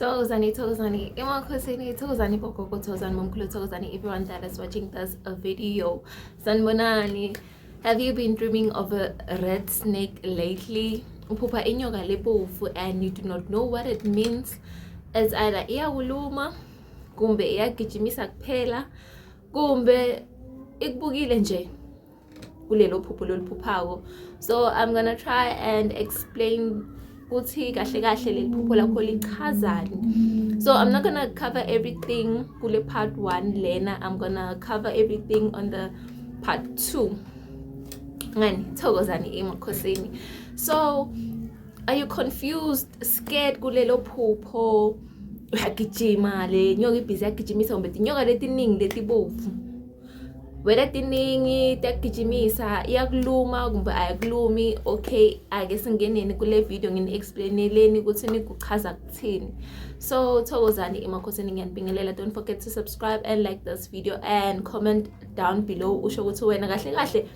Thokozani, Thokozani, emakhosini, Thokozani, Bogogo, Thokozani, Momkhulu, Thokozani, everyone that is watching this video. Sanbonani, have you been dreaming of a red snake lately? Uphupha inyoka lebovu and you do not know what it means. It's either iyakuluma, kumbe iyagijimisa kuphela, kumbe ikubukile nje. kulelo phupho loliphuphako so i'm gonna try and explain ukuthi kahle kahle leli phupho lakho lichazani so i'm not gonna cover everything kule part one lena i'm gonna cover everything on the part two ngani thokozani emakhosini so are you confused scared kulelo phupho uyagijima le nyoka ibhizi yagijimisa kumbe tinyoka letiningi letibovu whether tiningi tiyakugijimisa iyakuluma kumbe ayikulumi okay ake singeneni kule video ngini-explaineleni ukuthi nikuchaza kuthini so thokozani emakhosini ngiyanibingelela don't forget to subscribe and like this video and comment down below usho ukuthi wena kahle kahle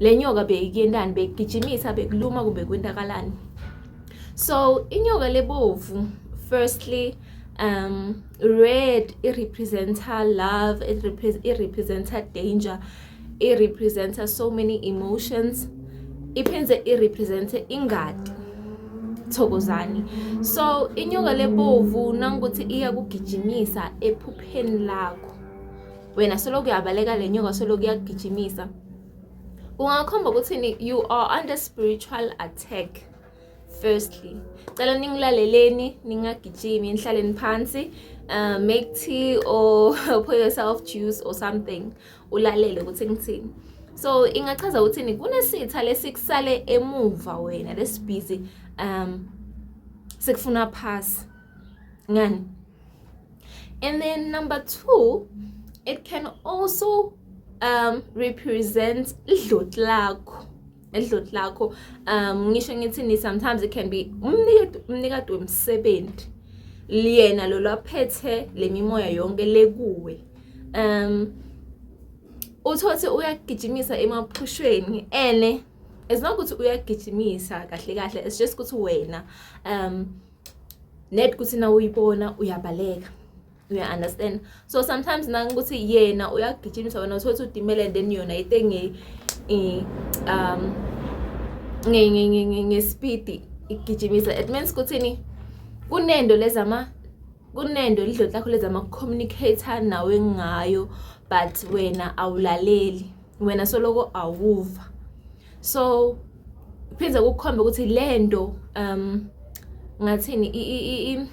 le nyoka beyikuyentani bekugijimisa bekuluma kumbe kwentakalani so inyoka lebovu firstly um red it represents her love it, repre it represents her danger it represents her so many emotions iphinde it represents ingadi thokozani so inyoka lebovu nangokuthi iya kugijimisa ephupheni lakho wena soloku uyabaleka le nyoka soloku iyakugijimisa ungakhomba ukuthi you are under spiritual attack firstly cela ningilaleleni ningagijimi nihlaleni phansi uh, make tea or pour yourself juice or something ulalele ukuthi ngithini so ingachaza ukuthini kunesitha lesikusale emuva wena lesibhizi um sikufuna pass ngani and then number two it can also um represent idloti lakho edloti lakho um ngisho ngithini sometimes it can be umnikati wemsebenzi liyena lo lwaphethe le mimoya yonke lekuwe um uthothi uyagijimisa emaphushweni ene as long ukuthi uyagijimisa kahle kahle it's just ukuthi wena um net kuthi na uyibona uyabaleka you understand so sometimes nangokuthi yena uyagijimisa wena uthotha udimele and then yona ite nge um nge nge nge nge speed igijimisa it means kuthini kunendo lezama kunendo lidloti lakho lezama communicator nawe ngayo but wena awulaleli wena soloko awuva so phinde kukhombe ukuthi lento um ngathini i i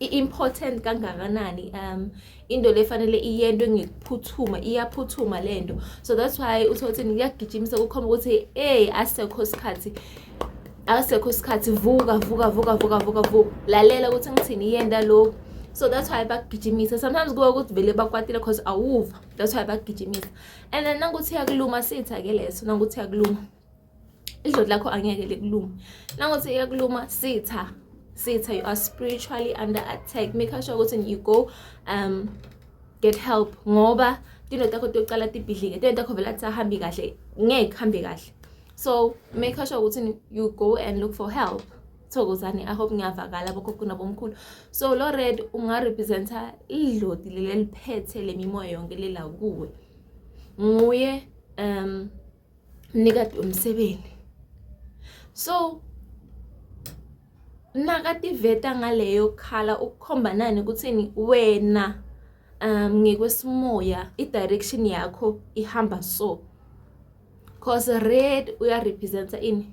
i-important kangakanani um into le fanele iyento ngikuphuthuma iyaphuthuma le nto so that's why uthothini kuyagijimisa kukhomba ukuthi ey asekho isikhathi asekho isikhathi vuka vuka vuka vuka vuka vuka lalela ukuthi ngithini yenda lokhu so that's why bakugijimisa sometimes kuwe ukuthi vele bakwatile cause awuva that's why bakugijimisa and then nanguthi yakuluma sitha ke leso nanguthi yakuluma idloti lakho angeke likuluma nangothi iyakuluma sitha sitha you are spiritually under attack make sure ukuthi you go um get help ngoba into takho tokuqala tibhidlike into takho vele athi ahambi kahle ngeke hambe kahle so make sure ukuthi you go and look for help thokozani i hope ngiyavakala bokhokho nabomkhulu so lo red ungarepresenta idloti leli liphethe lemimoya yonke lela kuwe nguye um mnikati womsebenzi so nakativeta ngaleyo khala ukukhomba nani ukuthini wena um ngekwesimoya i-direction yakho ihamba so cause red uyarepresenta ini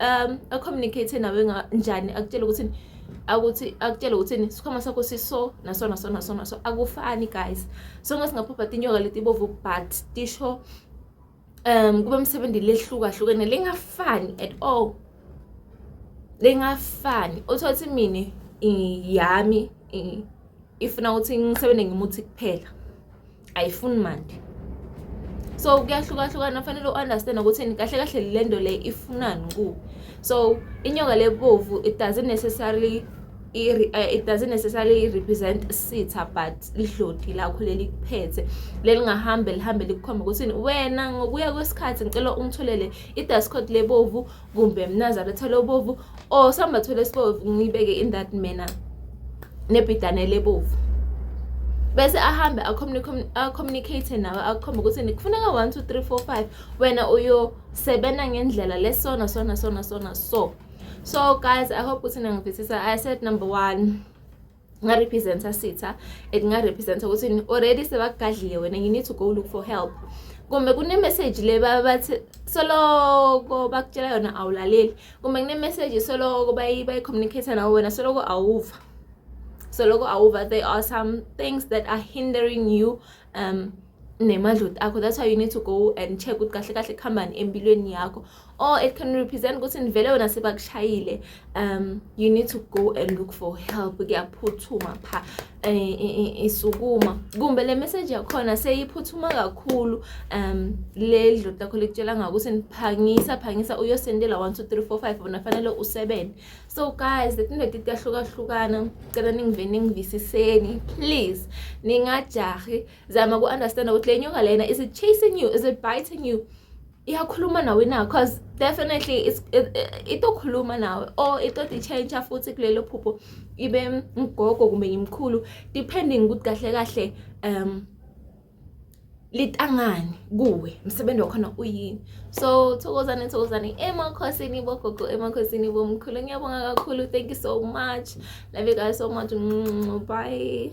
um acommunicate nawe njani akutshela ukuthi akuthi akutshele ukuthini sikhwama sakho siso naso naso naso naso akufani guys sonke singaphupha tinyoka leti bovu but tisho um kube msebenzi lehlukahlukene lingafani at all lingafani uthole ukuthi mina yami ifuna ukuthi ngisebenze ngimuthi kuphela ayifuni mandi so kuyahlukahlukana fanele u-understand ukuthi kahle kahle le nto le ifunani ku so inyoka lebovu it doesn't necessarily Eh, it doesn't necessarily represent sitha but lidlodi lakho leli kuphethe lelingahambe lihambe likukhombe ukuthi wena ngokuya kwesikhathi ngicela ungitholele i-dust coat lebovu kumbe mnazalo thole ubovu or samba thole sibovu ngibeke in that manner nebhidane lebovu bese ahambe acommunicate nawe akhombe ukuthi nikufuneka 1 2 3 4 5 wena uyosebenza ngendlela lesona sona sona sona so so guys i hope ukuthi nangivisisa i said number one kungarepresenta sitha and kungarepresenta ukuthi already sebakugadlile wena you need to go look for help kumbe kunemeseji le baba bathi soloko bakutshela yona awulaleli kumbe kunemeseji soloko bayi-communicate nawo wena soloko awuva soloko awuva there are some things that are hindering you um nemadloti akho that's why you need to go and check ukuthi kahle kahle kuhambani empilweni yakho or it can represent ukuthi nivele wena sebakushayile um you need to go and look for help kuyaphuthuma pha eh, eh, eh, isukuma kumbe le message yakhona seyiphuthuma kakhulu um le dloti lakho likutshela ngakuthi niphangisa phangisa uyosendela 1 2 3 4 5 bona fanele usebenze so guys letindoda tiyahlukahlukana cela ningive ningivisiseni please ningajahi zama ku-understanda ukuthi le nyoka lena is it chasing you is it biting you iyakhuluma nawe na cause definitely itokhuluma nawe or itoti-change-a futhi kulelo phupho ibe mgogo kumbe ngimkhulu depending ukuthi kahle kahle um litangani kuwe msebenzi wakhona uyini so thokozane thokozane emakhosini bogogo emakhosini bomkhulu ngiyabonga kakhulu thank you so much love you guys so much bye